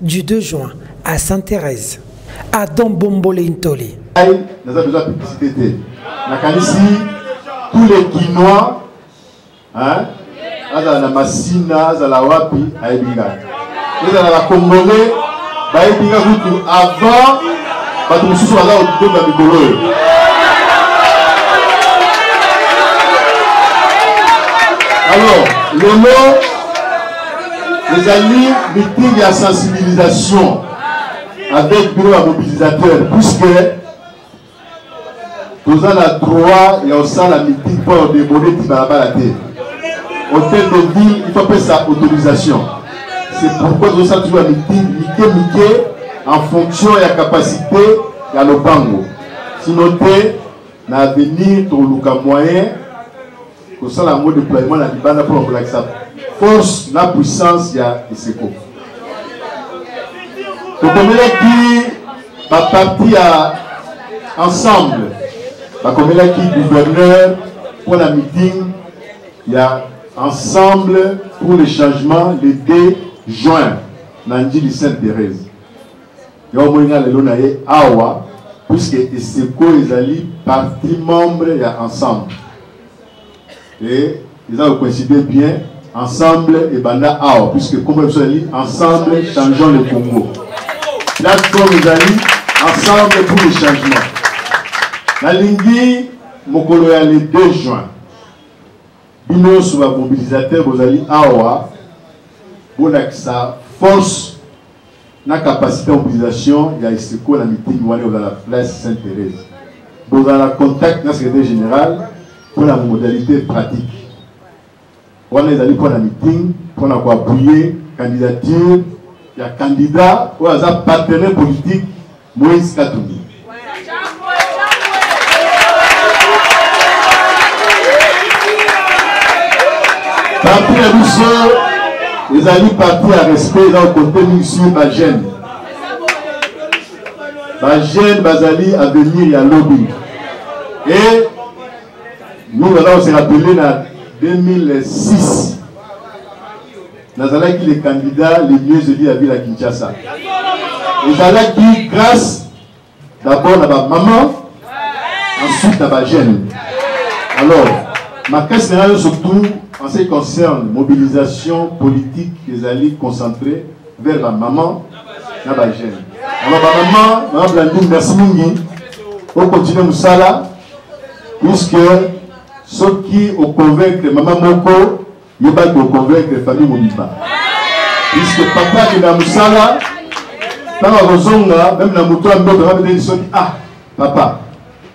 du 2 juin à sainte thérèse à don bombole ntoli naza besoin publicité te nakanisi tous les kinois hein? azala na masina azala wapi ayebi nga ezala na congolais bayebi nga kutu avant bato mosusu baza kotonda mikolo oyo alors lelo ezali meeting ya sensibilisation avec bureau ya mobilisateur puisque toza na droit ya kosala meeting mpo ya odebone ti balabala te hôtel de ville il faut apesa autorisation c'est pourquoi tozosala toujours ya meeting mike mike en fonction ya capacité ya lopango sino te na avenir toluka moyen kosala yango deploiement na libanda mpona kolakisa force na puissance ya eseko tokomelaki baparti ya ensemble bakomelaki gouverneur mpo na meeting ya ensemble pour le changement le 2 juin na njili sainte thérèse Yo omoni nga lelo na ye awa puisque eseko ezali parti membre ya ensemble et eza kocoïncide bien ensemble ebanda awa puisque nkombo ya biso ezali ensemble changeons le congo plateforme ezali ensemble pour le changement nalingi mokolo ya le 2 juin bino nyonso bamobilisateur bozali awa bolakisa force na capacité ya mobilisation ya esiko na meeting wana ekozala na place sainte thérèse bozala na contact na secrétaire général mpo na modalité pratique wana ezali mpo na meeting mpo na koapuye candidature ya candidat oyo aza partenaire politique Moïse Katumbi. Parti na biso ezali parti ya respect eza kokote mingi sur bagene bagene bazali avenir ya lobi e mingi baza koseka tele na 2006 nazalaki le candidat le mieux élu ya ville ya kinshasa ezalaki grâce d'abord na bamama ensuite na bajeune alors makasi na yo surtout en ce qui concerne mobilisation politique ezali concentré vers bamama na bajeune alors bamama mama blandine merci mingi okontinue mosala puisque soki oconvaincre mama moko Yo ba ko convaincre famille mobimba. Puisque papa qui na musala ntango akozonga meme na moto ya mboto abeteli soki ah papa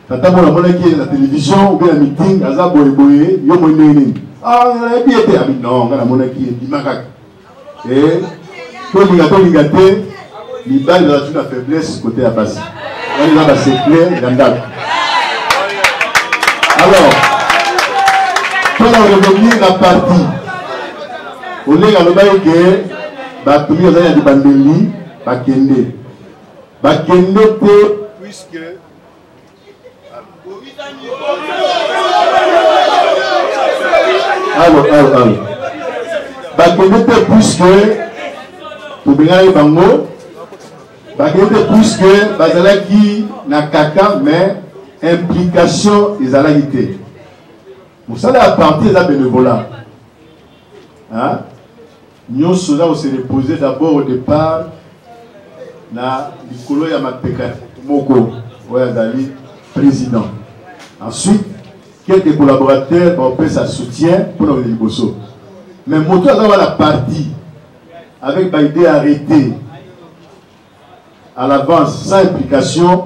tata mona amonaki ye na télévision obe na meeting aza boyeboye yo moi ndenge nini ah nayebi ye te abi non ngai namonaki ye ndima kaka eh, tolinga tolinga te mibali bazalaki na faiblesse kote ya basi wana eza basecret ya ndako alors mpona revenir na parti olenge alobaki ke bato mingi bazali na libandeli bakende bakende te puisque alo alo alo bakende te puiske tobengaki bango bakende te puiske bazalaki na kaka mais implication ezalaki te mosala ya parti eza benevola Nionso eza ko se reposer d'abord au depart na likolo ya mapeka moko oyo azali president ensuite quelques collaborateurs baopesa soutien mpo na kokende liboso mais moto aza wana parti avec baide arrete à l'avance sans implication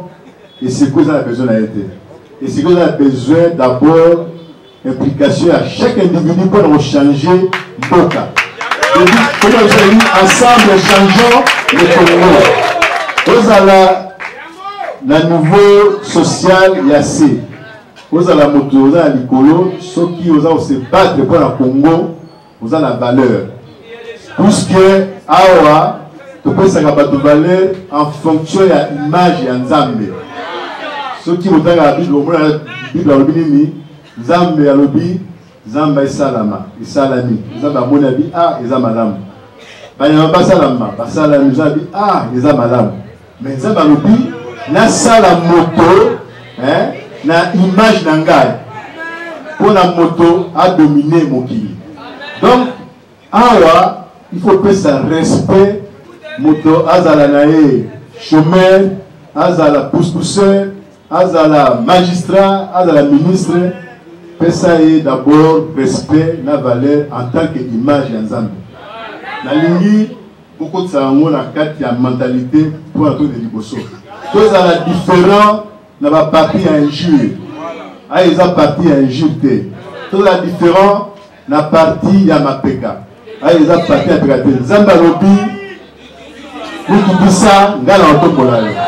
eseko eza na besoin na ye te eseko eza na besoin d'abord implication ya chaque individu mpo na kochange mboka okozali ensemble changeant le congo ozala na niveau social ya se ozala moto oza na likolo soki oza kose battre mpo na congo oza na valeur puisque awa topesaka bato valeur en fonction ya image ya nzambe soki otangaka bible omona bible alobi nini nzambe alobi nzambe esalama esalami nzambe amoni abi a ah, eza malamu banyama basalama basalami nzambe a ah, eza malamu Mais Nzambe alobi nasala moto eh, na image na ngai mpo na moto adomine mokili. Donc awa il faut pesa respect moto azala na ye chômeur azala pouspousseur azala magistrat azala ministre pesa ye d'abord respect na valeur en tant que image ya nzambe nalingi bokotisa yango na kati ya mentalite mpo na tode liboso tozala différent na baparti ya injure ayo eza parti ya injure te tozala différent na parti ya mapeka ayo eza parti ya peka te nzambe alobi mikitisa ngai na otombola yo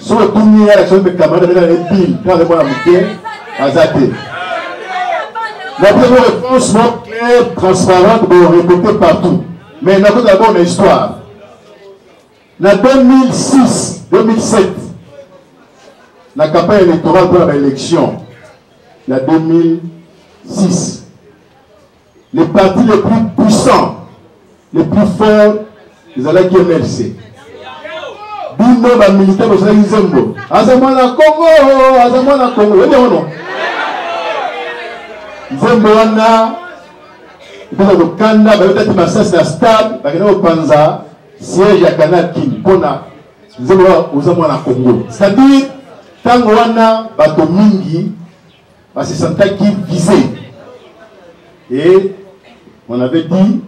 soki otuni ye ya soki camarade abeta na epile mpo aza mwana moke aza te napesa réponse mo claire transparente borecote partout mais nakoki dabord na histoire na 2006 2007 na campagne électorale mpo na baélection ya 2006 Le parti le plus puissant, le plus fort ezalaki MLC. Bino ba militaire bozalaki nzembo. Aza mwana Congo, aza mwana Congo. Oyebi yango no? Nzembo wana mpona kokanda bayotaki masasi na stade bakenda kopanza siège ya canal king mpona nzembo wana oza mwana Congo. C'est-à-dire ntango wana bato mingi Ba se sentaki visé. Et on avait dit,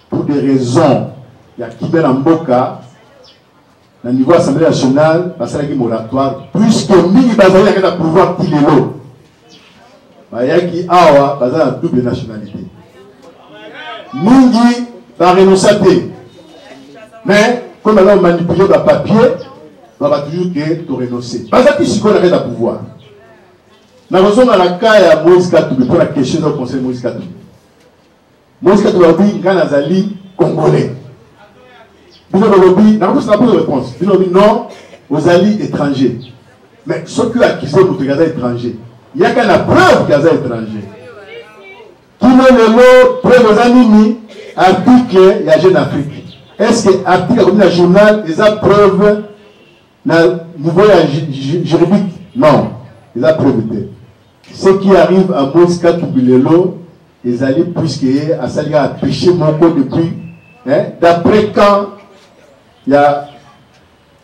pour des raisons, il y a qui la mboka, na niveau assemblée nationale, basalaki moratoire, puisque mingi bazali yaka na pouvoir ti lelo. Bayaki awa baza na double nationalité. Mingi ba renonça te. Mais comme alors manipuler ba papier, ba ba toujours que to renoncer. Bazaki sikoyo na pouvoir. nakozonga na ka ya moïse katumbi mpo na question eza conseil moïse katumbi moïse katumbi alobi ngai nazali congolais bino bolobi nakotosa na poto réponse bino lobi non ozali étranger mais soki oyo akise moto aza étranger yaka na preuve ke aza étranger kino lelo preuve eza nini article ya jeune afrique est ce que article akomi na journal eza preuve na niveau ya juridique non eza preuve te ce qui arrive à moïse katumbi lelo ezali puisque ye asali kaka péché moko depuis hein, d'après quand ya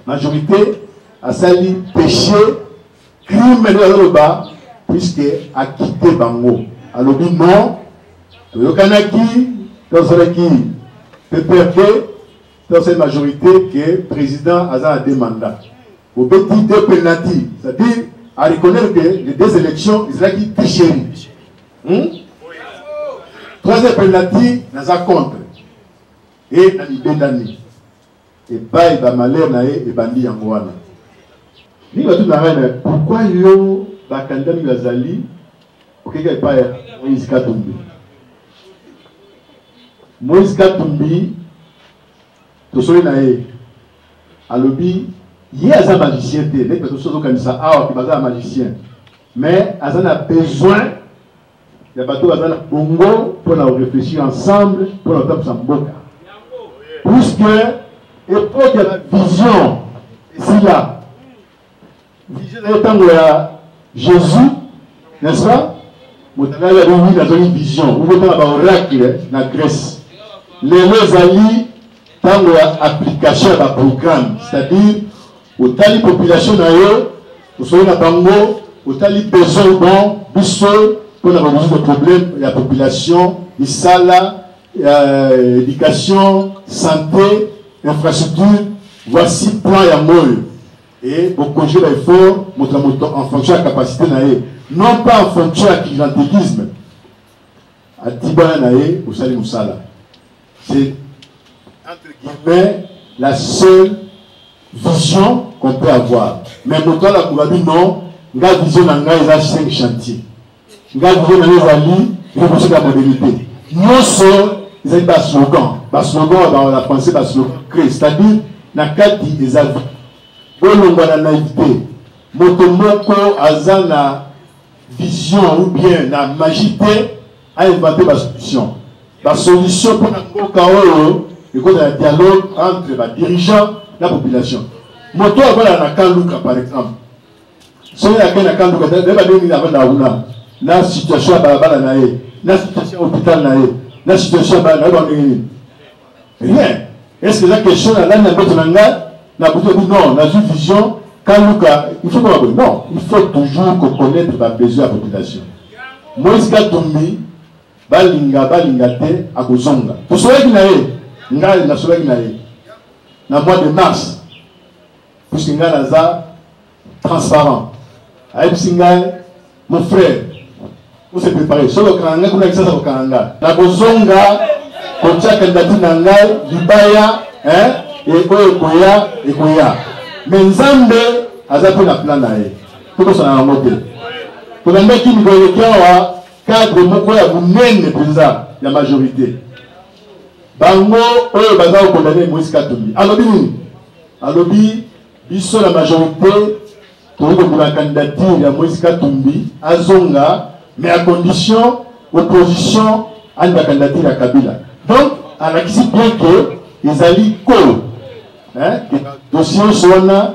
majorité asali péché crime nde azoloba puisque akite bango alobi non toyokanaki tosalaki pprd Dans cette majorité que président aza na deux mandats. Vous bêtis deux penalty, c'est-à-dire à reconnaître que les deux élections ezalaki tricherie. Hmm? Troisième penalty naza contre. Et na libendani. epai bamalere na ye ebandi yango wana nini bato na ngai na pourkui yo bakandida mingi bazali Okeka epai ya Moïse Katumbi. Moïse Katumbi tosoli na ye alobi ye aza magicien te ndenge bato soki okanisa awa ke baza na magicien mais aza na besoin ya bato baza na bongo mpo na korefléchir ensemble mpo na kotambwisa mboka puisque epoke ya bavision esila vision ezali tango ya Jésus n'est-ce pas motangali ya bibi nazali vision okotanga ba oracle na grèce lelo ezali ntango ya application ya baprogramme c'est-à-dire otali population na yo osoli na bango otali besoin bon biso mpo na bamosusu de problème ya population misala euh, éducation santé infrastructure voici plan ya moyo e bokonje ba effort moto na moto en fonction ya capacité na ye non pas en fonction ya clientélisme atibana na ye osali mosala c'est entre guillemets la seule vision qu'on peut avoir mais moto alakola bi non nga vision na ngai eza 5 chantier ngai video na yo ezali revolution ya modernité nyonso ezali baslogan baslogan ya bana français baslogan cré c'est-à-dire na kati eza vi bolongwa na naïvité moto moko aza na vision ou bien na magie te ainvente basolution basolution mpo na mboka oyo ekozala ya dialogue entre badirigeant na population moto akolala na kaluka par exemple soki na bena kanduka te nde babengi na bana kuna na situation ya balabala na ye na situation ya hôpital na ye na situation ya bana na ye bandenge nini rien est ce que eza question na lani na mboto na ngai na kutobi non nazwi vision kaluka il faut koma boye non il faut toujours koconnaître babesoin ya population moïse katumbi balinga balinga te akozonga tosolaki na ye ngai nasolaki na ye na mois de mars puisque ngai naza transparent ayebisi ngai mon frère ose prépare soki okanga ngai kuna kisasa kokanga ngai nakozonga kotya kandidature na ngai libaya oyo ekoya ekoya me nzambe aza mpe na plan na ye tokosana yango te tolandaki mikolo eleki awa cadre moko ya monene mpenza ya majorité bango oyo baza kokondane moise katumbi alobi nini Alobi biso la majorité tokoki kokuna candidature ya Moïse Katumbi azonga mais à condition opposition ani ba candidature ya Kabila. Donc alakisi bien que ezali ko hein, dossier wana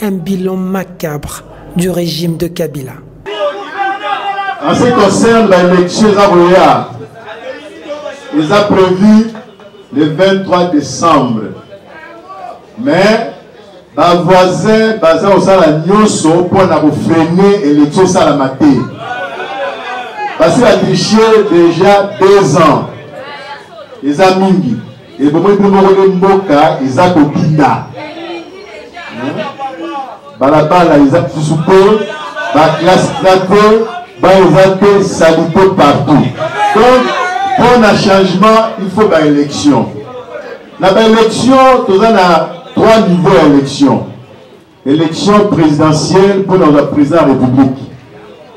Un bilan macabre du régime de Kabila. En ce qui concerne l'élection Zagoya, ils ont prévu le 23 décembre. Mais ba voisin baza kosala nyonso mpo na kofrene élection esalama te basi batriche déjà deux ans eza mingi ebomoi bino moko nde mboka eza kobinda hmm? balabala eza lisusu te baklasse eza te ba eza te salite partout donc mpo na changement il faut baélection na baélection toza na trois niveau ya élection Election presidentielle mpo na kozala president ya republique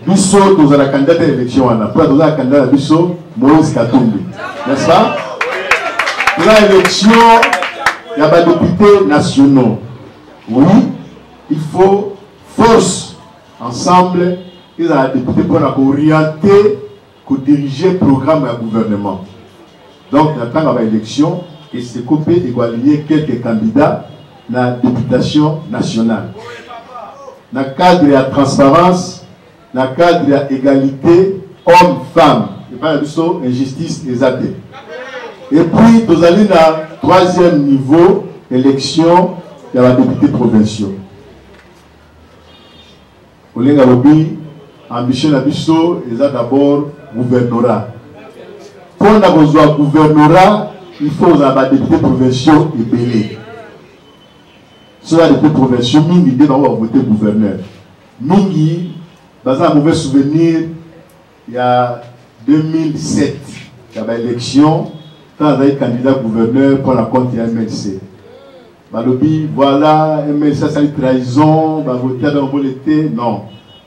biso tozala candidat ya election wana mpo na tozala candidat na biso moïse katumbi n'est-ce pas toza election ya badepute nationaux oui il faut force ensemble ezala depute mpo na kooriente ko diriger programme ya gouvernement donc na tanga ba élection eseko pe eko aligner quelques candidats na députation nationale na cadre ya transparence na cadre ya égalité homme femme epai na biso injustice eza te et puis tozali na troisième niveau élection ya badepute provinciaux Olenga alobi ambition na biso eza d'abord gouvernorat. Mpo na kozwa gouvernorat il faut kozala badepute provinciaux ebele soki adepute provinciaux mingi nde bango bavote gouverneur mingi baza na mauvais souvenir ya 2007 ya ba election ntango azali candidat gouverneur mpo na compte ya mlc balobi voilà mlc asali trahison bavote ata mobole te non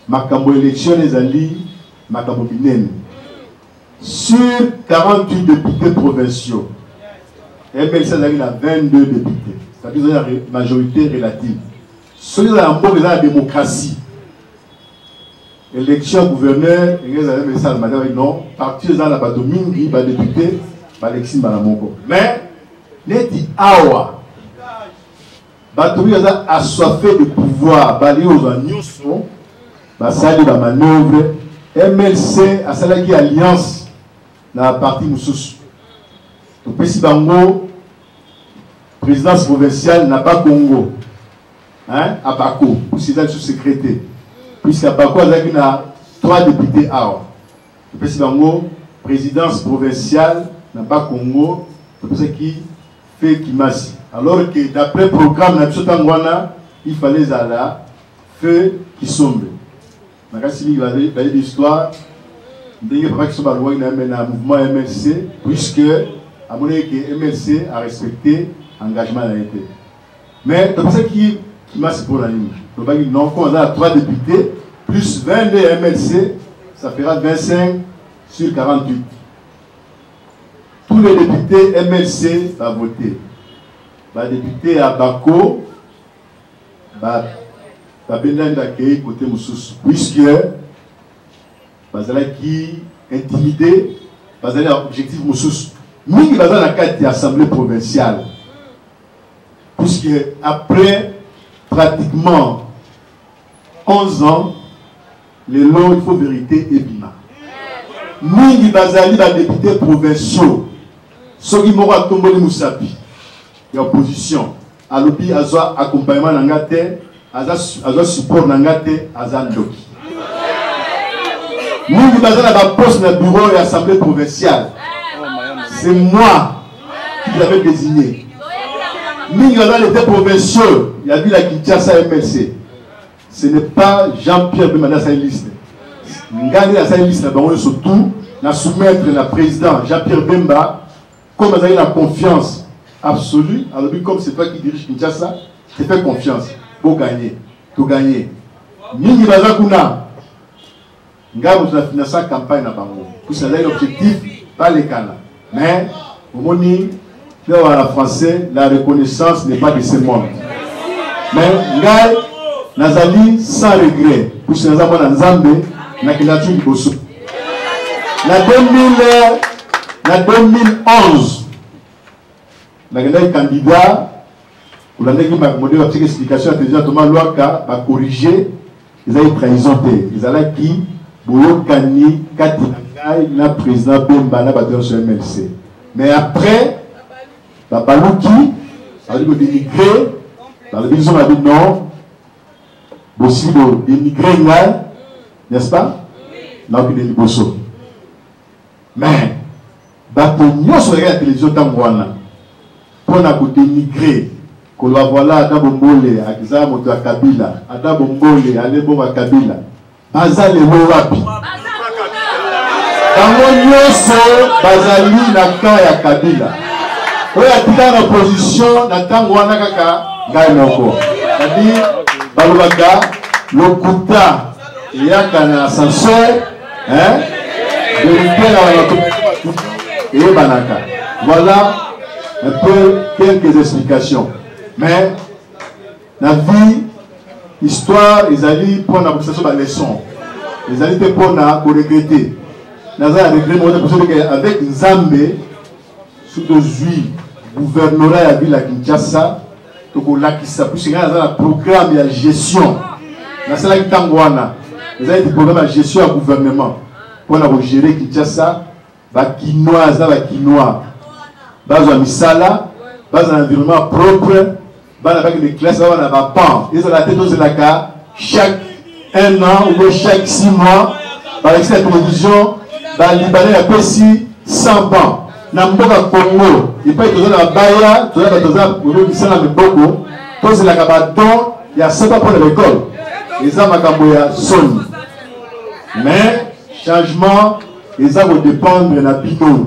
makambo election ezali makambo minene sur 48 députés provinciaux mlc azalaki na 22 députés c'est-à-dire majorité relative soki ezala mboka eza na démocratie Election ya gouverneur ndenge ezali mpe esalema te babi non parti eza na bato mingi badepute balekisi mbala moko mais neti awa bato mingi baza assoiffe de pouvoir balingi kozwa nyonso basali bamanoeuvre mlc asalaki alliance na parti mosusu topesi bango présidence provinciale na bakongo hein abako sida su secrétaire puisque abako azalaki na trois députés awa epesi bango présidence provinciale na bas congo topesaki fe kimasi alors que d'après programme na biso ntango wana il fallait ezala fe kisombe nakasi mingi bayebi histoire ndenge papa kiso balongwaki na yame na mouvement ya mlc puisque amonaki ke mlc arespecte engagement na ye te Mais topesaki kimasi mpo na nini lobaki non comme aza na 3 députés plus 22 ya mlc ça fera 25 sur 48 tous les députés mlc bavote badepute ya bako babendani bakei kote mosusu puisque bazalaki intimide bazali na objectif mosusu mingi baza na kati ya assemblée provinciale Puisque après pratiquement 11 ans, les lois, il faut vérité et bima. Mingi bazali ba députés provinciaux. Soki moko atomboli musapi ya opposition. Alobi azwa accompagnement na nga te aza aza support na nga te aza ndoki mingi baza na baposte na bureau ya assemblée provinciale c'est moi qui l'avais désigné mingi baza lete provinciaux ya ville ya kinshasa mlc ce n'est pas jean pierre bemba nde asali liste ngai nde nasali liste na bango nyonso tout na soumettre na président jean pierre bemba Comme azali na confiance absolue, alobi comme c'est toi qui dirige Kinshasa, te fais confiance. Bo gagner, to gagner. Mingi baza kuna. Ngai moto na finança campagne na bango. Puisque azali objectif balekana. Mais omoni leo wana français la reconnaissance n'est pas de ce monde. Mais ngai nazali sans regret puisque naza mwana Nzambe nakendaki liboso. na 2000 na 2011 nakendaki candidat kolandaki makambo nde bapesaki explication ya président thomas lwaka bacorrige ezalaki trahison te ezalaki boyokani kati na ngai na président bemba na bato nyonso ya mlc mais après babaluki bazali kodenigre balobi biso babi non bosili bodenigre ngai n'est-ce pas nakokende liboso mais bato nyonso bayaka ya télévision ntango wana mpo na kodenigre koloba voila ada bombole akiza moto ya kabila ada bombole alebongo ya kabila baza lelo wapi bango nyonso bazali na camp ya kabila oyo atikala na position na ntango wana kaka ngai moko adi balobaka lokuta eyaka na ascenseur hein verite na bato eyebanaka voilà un peu quelques explications mais na vie histoire ezali mpo na kopesa biso baleçon ezali te mpo na koregrete naza ya regret moko te kosoleke avec nzambe soki ozwi gouvernorat ya ville ya kinshasa tokolakisa puisque ngai naza na programme ya gestion nasalaki ntango wana eza ete programme ya gestion ya gouvernement mpo na kogere kinshasa bakinois na bakinois bazwa misala bazwa na environnement propre bana baki mi classe baba na ba pan ezala te tozelaka chaque un an ou bien chaque six mois balakisi na télévision balibane ya pesi 100 ban na mboka congo epai toza na babaya toza bato oza misala miboko tozelaka badon ya saba mpo na lekole eza makambo ya soni mais changement eza kodépendre na bino